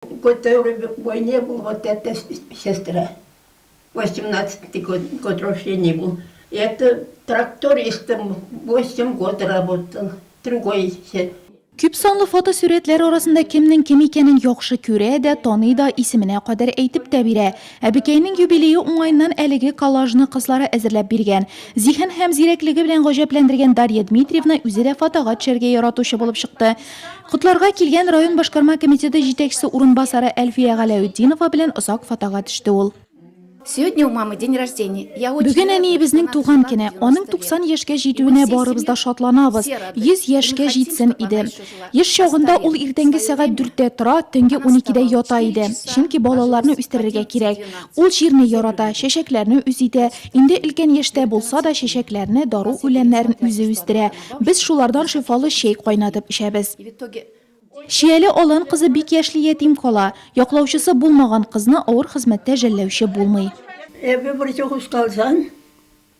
Готовы к войне бул вот это сестра восемнадцатый год год рождения бул это трактористом восемь год работал другой исә. Күп санлы фотосурәтләр арасында кемнең кем икәнен яхшы күрә дә, таный да, исеменә кадәр әйтеп тә бирә. Әбекәйнең юбилее уңаеннан әлеге коллажны кызлары әзерләп биргән. Зиһен һәм зирәклеге белән гаҗәпләндергән Дарья Дмитриевна үзе дә фотога төшәргә яратучы булып чыкты. Котларга килгән район башкарма комитеты җитәкчесе урынбасары Әлфия Галәүтдинова белән озак фотога төште ул. Сегодня у мамы день рождения. Я очень Бүген рада, әниебезнең что туган она көнә. отметила Аның 90 90 лет. яшькә И җитүенә мы всей барыбыз да семьей шатланабыз. все рады. 100 И мы яшькә хотим, җитсен чтобы иде. она еще жила. Еш чагында Оставим ул иртәнге свое сәгать время. 4-тә тора, төнге Она 12-дә вставала в ята 4 иде. часа, Чөнки балаларны ложилась в үстерергә 11, кирәк. 12. Ул җирне Сәбәбе- ярата, чәчәкләрне үзе итә. Инде өлкән яшьтә булса да, чәчәкләрне, дару үләннәрен үзе үстерә. Без шулардан шифалы чәй кайнатып эчәбез. Чияле Алан кызы бик яшьли ятим кала. Яклаучысы булмаган кызны авыр хезмәттә жәлләүче булмый.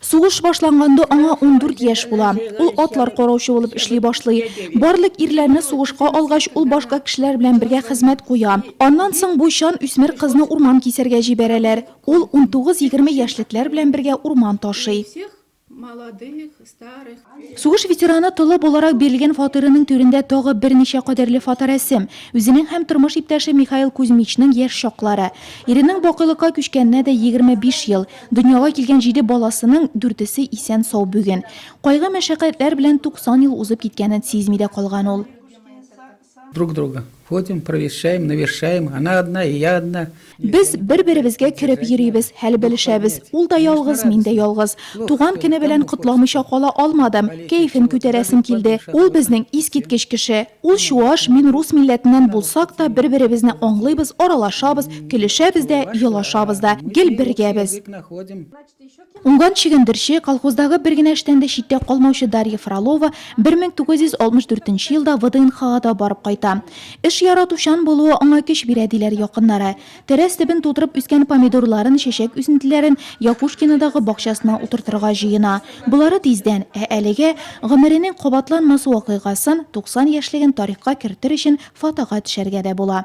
Сугыш башланганда аңа ундүрт яшь була. Ул атлар караучы булып эшли башлый. Барлык ирләрне сугышка алгач, ул башка кешеләр белән бергә хезмәт куя. Аннан соң бу чан үсмер кызны урман кисәргә җибәрәләр. Ул унтугыз-егерме яшьлекләр белән бергә урман ташый. Молодых, старых. Сугыш ветераны Толы буларак бирелгән фатирының түрендә тагы берничә кадерле фоторәсем. Үзенең һәм тормыш иптәше Михаил Кузьмичның яшь чаклары. Иренең бакыйлыкка күчкәненә дә 25 ел. Дөньяга килгән җиде баласының дүртесе исән-сау бүген. Кайгы-мәшәкатьләр белән 90 ел узып киткәнен сизми дә калган ул. Друг друга ходим, провещаем, навещаем, она одна и я одна. Без бер-беребезгә кереп йөрибез, хәл белешәбез. Ул да ялгыз, мин дә ялгыз. Туган көне белән котламыйча кала алмадым. Кәефен күтәрәсем килде. Ул безнең искиткеч кеше. Ул чуаш, мин рус милләтеннән булсак та, бер-беребезне аңлыйбыз, аралашабыз, көлешәбез дә, елашабыз да. Гел бергә без. Уңган чөгендерче, колхоздагы бер генә эштән дә читтә калмаучы Дарья Фролова 1964 елда ВДНХга да барып кайта. Эш яратучан булуы аңа көч бирә, диләр якыннары. Тәрәз төбен тутырып үскән помидорларын, чәчәк үсентеләрен Якушкинодагы бакчасына утыртырга җыена. Болары тиздән. Ә әлегә, гомеренең кабатланмас вакыйгасын, 90 яшьлеген тарихка кертер өчен фотога төшәргә дә була.